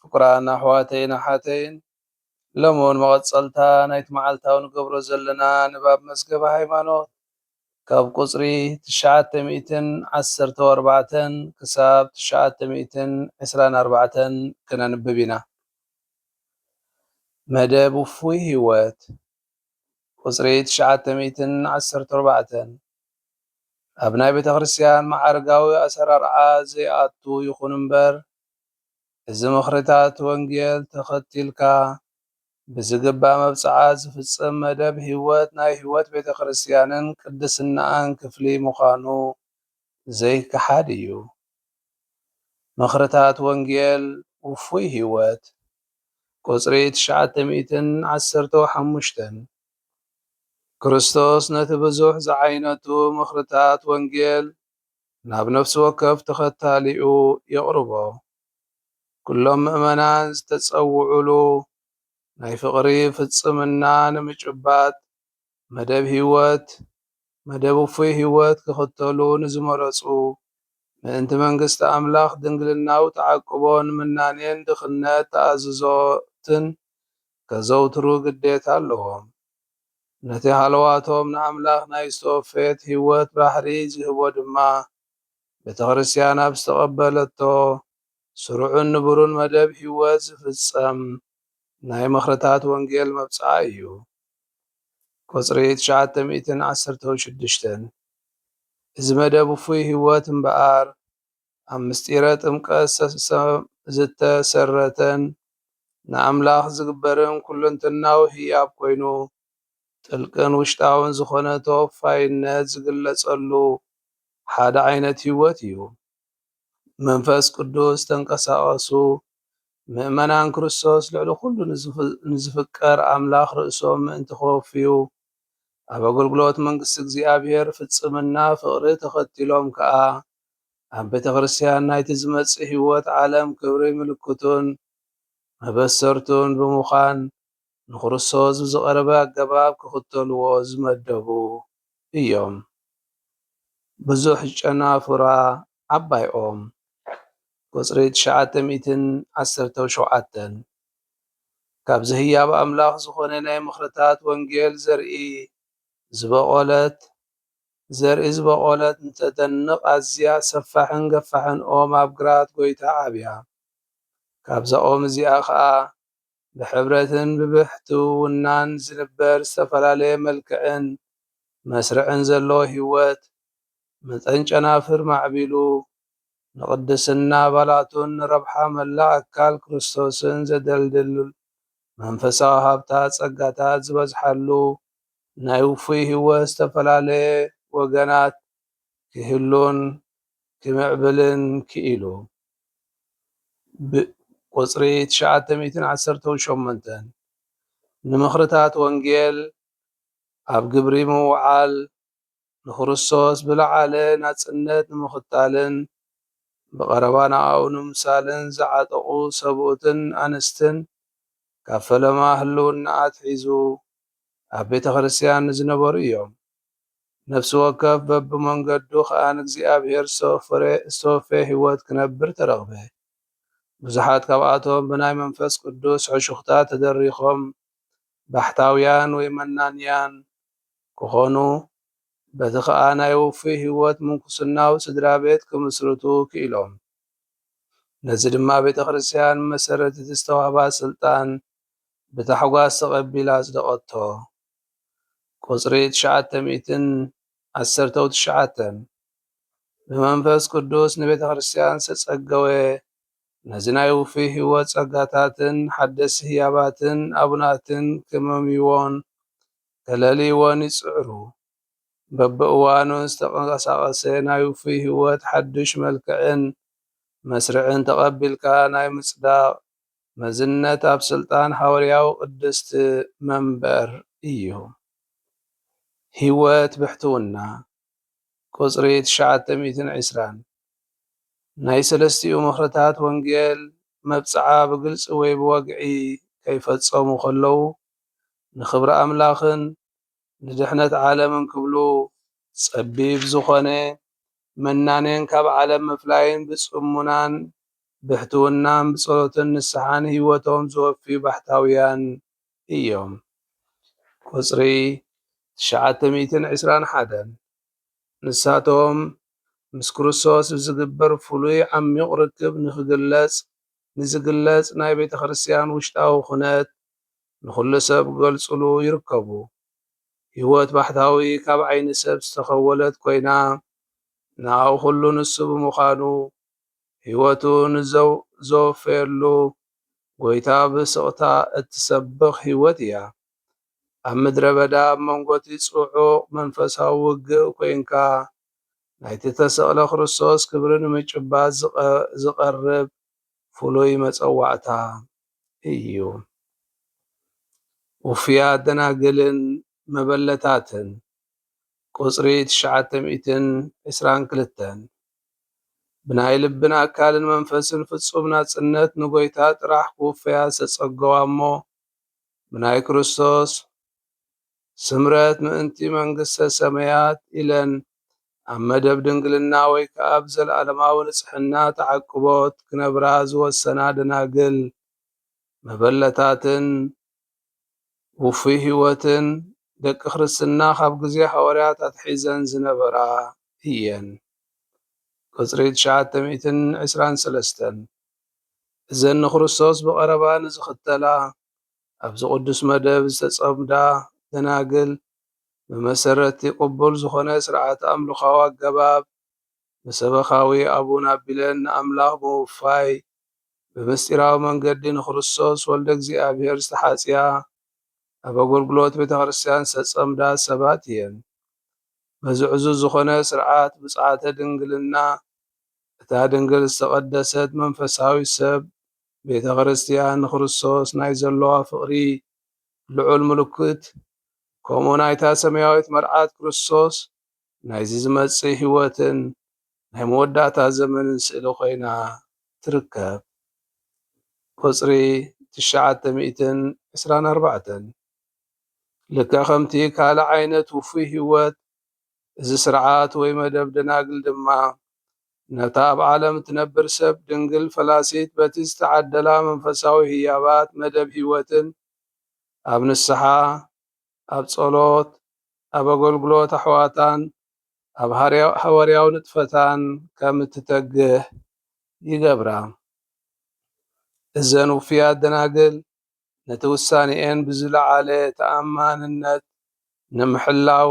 ፍቁራን ኣሕዋተይን ኣሓተይን ሎሚ ውን መቐጸልታ ናይቲ መዓልታዊ ንገብሮ ዘለና ንባብ መዝገበ ሃይማኖት ካብ ቁጽሪ ትሽዓተ ሚእትን ዓሰርተው ኣርባዕተን ክሳብ ትሽዓተ ሚእትን ዕስራን ኣርባዕተን ክነንብብ ኢና። መደብ ውፉይ ህይወት ቁጽሪ ትሽዓተ ሚእትን ዓሰርተ ኣርባዕተን ኣብ ናይ ቤተክርስትያን መዓርጋዊ ኣሰራርዓ ዘይኣቱ ይኹን እምበር እዚ ምኽሪታት ወንጌል ተኸቲልካ ብዝግባእ መብጽዓ ዝፍጽም መደብ ሕይወት ናይ ሕይወት ቤተ ክርስቲያንን ቅድስናኣን ክፍሊ ምዃኑ ዘይከሓድ እዩ። ምኽርታት ወንጌል ውፉይ ሕይወት ቁጽሪ ትሽዓተ ሚእትን ዓሰርተው ሓሙሽተን ክርስቶስ ነቲ ብዙሕ ዝዓይነቱ ምኽርታት ወንጌል ናብ ነፍሲ ወከፍ ተኸታሊኡ የቕርቦ። ኩሎም ምእመናን ዝተጸውዑሉ ናይ ፍቕሪ ፍጽምና ንምጭባጥ መደብ ሕይወት፣ መደብ ውፉይ ሕይወት ክኽተሉ ንዝመረጹ ምእንቲ መንግሥቲ ኣምላኽ ድንግልናዊ ተዓቅቦን ምናኔን ድኽነት ተኣዝዞትን ከዘውትሩ ግዴታ ኣለዎም። ነቲ ሃለዋቶም ንኣምላኽ ናይ ዝተወፈየት ህይወት ባሕሪ ዚህቦ ድማ፣ ቤተክርስትያን ኣብ ዝተቐበለቶ ስሩዕን ንቡርን መደብ ህይወት ዚፍጸም ናይ ምኽርታት ወንጌል መብጽዓ እዩ። ቁጽሪ ትሽዓተ ሚእትን ዓሰርተው ሽዱሽተን፣ እዚ መደብ ውፉይ ህይወት እምበኣር፣ ኣብ ምሥጢረ ጥምቀት ዝተሠረተን ንኣምላኽ ዝግበርን ኩለንተናዊ ህያብ ኮይኑ ጥልቅን ውሽጣውን ዝኾነ ተወፋይነት ዝግለጸሉ ሓደ ዓይነት ሕይወት እዩ። መንፈስ ቅዱስ ተንቀሳቐሱ ምእመናን ክርስቶስ ልዕሊ ኩሉ ንዝፍቀር ኣምላኽ ርእሶም ምእንቲ ከወፍዩ ኣብ ኣገልግሎት መንግሥቲ እግዚኣብሔር ፍጽምና ፍቕሪ ተኸቲሎም ከኣ ኣብ ቤተክርስትያን ናይቲ ዝመጽእ ህይወት ዓለም ክብሪ ምልክቱን መበሰርቱን ብምዃን ንክርስቶስ ብዝቐረበ ኣገባብ ክኽተልዎ ዝመደቡ እዮም። ብዙሕ ጨናፍራ ዓባይ ኦም፣ ቁጽሪ ትሽዓተ ሚእትን ዓሰርተው ሸውዓተን፣ ካብዚ ህያብ ኣምላኽ ዝኾነ ናይ ምኽርታት ወንጌል ዘርኢ ዝበቖለት ዘርኢ ዝበቖለት ንተደንቕ ኣዝያ ሰፋሕን ገፋሕን ኦም ኣብ ግራት ጎይታ ዓብያ። ካብዛ ኦም እዚኣ ከኣ ብሕብረትን ብብሕትውውናን ዝንበር ዝተፈላለየ መልክዕን መስርዕን ዘለዎ ህይወት መጠን ጨናፍር ማዕቢሉ ንቕድስና ኣባላቱን ንረብሓ መላእ ኣካል ክርስቶስን ዘደልድል መንፈሳዊ ሃብታት ጸጋታት ዝበዝሓሉ ናይ ውፉይ ህይወት ዝተፈላለየ ወገናት ክህሉን ክምዕብልን ክኢሉ። ብ ቁጽሪ ትሽዓተ ሚእትን ዓሰርተው ሸሞንተን፣ ንምኽርታት ወንጌል ኣብ ግብሪ ምውዓል ንክርስቶስ ብለዓለ ናጽነት ንምኽታልን ብቐረባ ንኣኡ ንምምሳልን ዝዓጠቑ ሰብኡትን ኣንስትን ካብ ፈለማ ህልውና ኣትሒዙ ኣብ ቤተ ክርስቲያን ንዝነበሩ እዮም። ነፍሲ ወከፍ በብመንገዱ ኸኣ ንእግዚኣብሔር ዝተወፈየ ሕይወት ክነብር ተረኽበ። ብዙሓት ካብኣቶም ብናይ መንፈስ ቅዱስ ሕሹኽታ ተደሪኾም ባሕታውያን ወይ መናንያን ክኾኑ፣ በዚ ኸኣ ናይ ውፉይ ሕይወት ምንኩስናዊ ስድራ ቤት ክምስርቱ ክኢሎም። ነዚ ድማ ቤተ ክርስቲያን ብመሠረት እቲ ዝተዋህባ ሥልጣን ብታሕጓስ ተቐቢላ ኣጽደቐቶ። ቍጽሪ ትሽዓተ ሚእትን ዓሠርተው ትሽዓተን፣ ብመንፈስ ቅዱስ ንቤተ ክርስቲያን ዝተጸገወ ነዚ ናይ ውፉይ ሕይወት ጸጋታትን ሓደስቲ ህያባትን ኣቡናትን ክምምይዎን ተለልይዎን ይጽዕሩ። በብእዋኑ ዝተቐሳቐሰ ናይ ውፉይ ህይወት ሓዱሽ መልክዕን መስርዕን ተቐቢልካ ናይ ምጽዳቕ መዝነት ኣብ ስልጣን ሓወርያዊ ቅድስት መንበር እዩ። ህይወት ብሕትውና፣ ቁጽሪ ትሽዓተ ሚእትን ዕስራን፣ ናይ ሰለስቲኡ ምኽርታት ወንጌል መብጽዓ ብግልጺ ወይ ብወግዒ ከይፈጸሙ ከለዉ ንኽብሪ ኣምላኽን ንድሕነት ዓለምን ክብሉ ጸቢብ ዝኾነ ምናኔን ካብ ዓለም ምፍላይን ብጽሙናን ብሕትውናን ብጸሎትን ንስሓን ሕይወቶም ዘወፍዩ ባሕታውያን እዮም። ቁጽሪ ትሽዓተ ሚእትን ዕስራን ሓደን ንሳቶም ምስ ክርስቶስ ብዝግበር ፍሉይ ዓሚቝ ርክብ ንኽግለጽ ንዝግለጽ ናይ ቤተ ክርስቲያን ውሽጣዊ ኩነት ንኹሉ ሰብ ክገልጹሉ ይርከቡ። ህይወት ባሕታዊ ካብ ዓይኒ ሰብ ዝተኸወለት ኮይና፣ ንኣኡ ኩሉ ንሱ ብምዃኑ፣ ህይወቱ ንዘወፈየሉ ጎይታ ብስቕታ እትሰብኽ ህይወት እያ። ኣብ ምድረ በዳ ኣብ መንጎ'ቲ ጽዑቕ መንፈሳዊ ውግእ ኮይንካ፣ ናይቲ እተሰቕለ ክርስቶስ ክብሪ ንምጭባጥ ዝቐርብ ፍሉይ መጸዋዕታ። እዩ። ውፉያት ደናግልን መበለታትን ቁጽሪ ትሽዓተ ሚእትን ዕስራን ክልተን ብናይ ልብን ኣካልን መንፈስን ፍጹም ናጽነት ንጐይታ ጥራሕ ክውፈያ ዝተጸገዋ እሞ ብናይ ክርስቶስ ስምረት ምእንቲ መንግስተ ሰመያት ኢለን ኣብ መደብ ድንግልና ወይ ከኣ ብ ዘለኣለማዊ ንጽሕና ተዓቅቦት ክነብራ ዝወሰና ደናግል መበለታትን ውፉይ ሕይወትን ደቂ ክርስትና ካብ ግዜ ሃዋርያት ኣትሒዘን ዝነበራ እየን ቅጽሪ ትሽዓተ ሚእትን ዕስራን ሰለስተን እዘን ንክርስቶስ ብቐረባ ንዝኽተላ ኣብዚ ቅዱስ መደብ ዝተጸምዳ ደናግል ብመሰረት'ቲ ቅቡል ዝኾነ ሥርዓተ ኣምልኾዊ ኣገባብ ብሰበኻዊ ኣቡን ኣቢለን ንኣምላኽ ብምውፋይ ብምስጢራዊ መንገዲ ንክርስቶስ ወልደ እግዚኣብሔር ዝተሓጽያ ኣብ ኣገልግሎት ቤተ ክርስቲያን ዝተጸምዳ ሰባት እየን። በዚ ዕዙዝ ዝኾነ ሥርዓት ብጽዓተ ድንግልና እታ ድንግል ዝተቐደሰት መንፈሳዊት ሰብ ቤተ ክርስቲያን ንክርስቶስ ናይ ዘሎዋ ፍቕሪ ልዑል ምልክት ከምኡ ናይታ ሰማያዊት መርዓት ክርስቶስ ናይዚ ዝመጽእ ሕይወትን ናይ መወዳእታ ዘመንን ስእሊ ኮይና ትርከብ። ቁጽሪ ትሽዓተ ሚእትን ዕስራን ኣርባዕተን ልክዕ ከምቲ ካልእ ዓይነት ውፉይ ሕይወት እዚ ስርዓት ወይ መደብ ደናግል ድማ ነታ ኣብ ዓለም እትነብር ሰብ ድንግል ፈላሲት በቲ ዝተዓደላ መንፈሳዊ ህያባት መደብ ህይወትን ኣብ ንስሓ፣ ኣብ ጸሎት፣ ኣብ ኣገልግሎት ኣሕዋታን ኣብ ሃዋርያዊ ንጥፈታን ከም እትተግህ ይገብራ። እዘን ውፍያት ደናግል ነቲ ውሳኔኤን ብዝለዓለ ተኣማንነት ንምሕላው